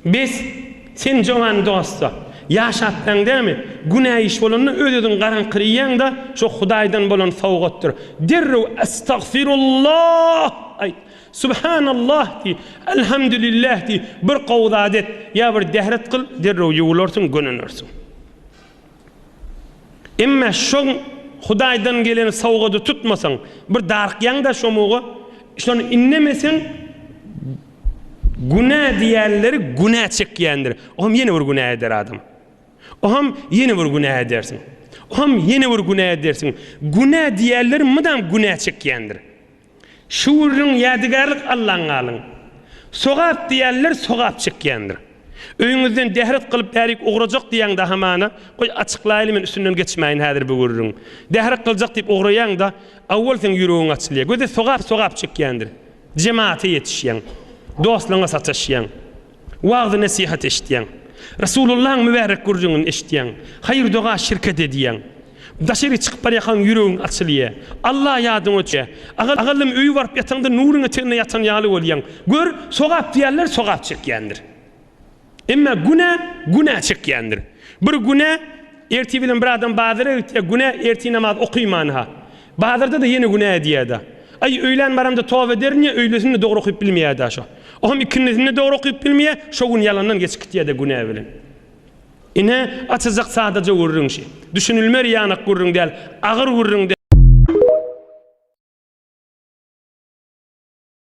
Bes, sen jogany dost-a. Ýaşapsaň dämi? Günä iş bolanda öz-özüňi garaňkyrýaň-da, şo Hudaýdan bolan sowgatdyr. Derrew Estagfirullah aýt. Subhanallah diý. Elhamdülillah diý. Bir gowy zat et. Ýa bir däret kyl, derrew ýuwularsyň, gönenersiň. Emma şoň Hudaýdan gelen sowgady tutmasaň, bir darykýaň-da şo muga, şony indemeseň, günä diýenleri günä çekýändir. Oňam ýene bir günä eder adam. Oňam ýene bir günä edersiň. Oňam ýene bir günä edersiň. Günä diýenleri mydam günä çekýändir. Şu gürrüň ýadygärlik Allaň galyň. Sogap diýýänler sogap çekýändir. Öýüňizden dähret gylyp bärik ugrajak diýýäňdä hamana, goý açyklaýly men üstünden geçmäýin häzir bu gürrüň. Dähret gyljak diýip ugraýaňda awwal seň ýüregiň açylýar. Göze sogap sogap çekýändir. Jemata ýetişýäň. Dostlaryňa sataşýaň. Wagzy-nesihat eşitýäň. Resulullahyň mübärek gürrüňini eşitýäň. Haýyr-doga şirket edýäň. Daşary çykyp barýarkaň ýüregiň açylýar. Alla ýadyňa düşýär. Agalym öýe baryp ýataňda nuryň eteginde ýatan ýaly bolýaň. Gör, sogap diýýärler, sogap çekýändir. Emma günä, günä çekýändir. Bir günä ertir bilen bir adam bazara gitýär, günä ertir namaz okaýman-ha. Bazarda-da ýene günä edýär-dä. Aý, öýlän baramda toba ederin ýa öýlesinde dogry okyp bilmeýär-dä şo. Oňam ikindisinde dogry okyp bilmeýär, şo gün ýalandan geçip gitýär-dä günä bilen. Ine, açyljak sadaja gürrüň şi. Düşünilmer ýanak gürrüň däl, agyr gürrüň däl.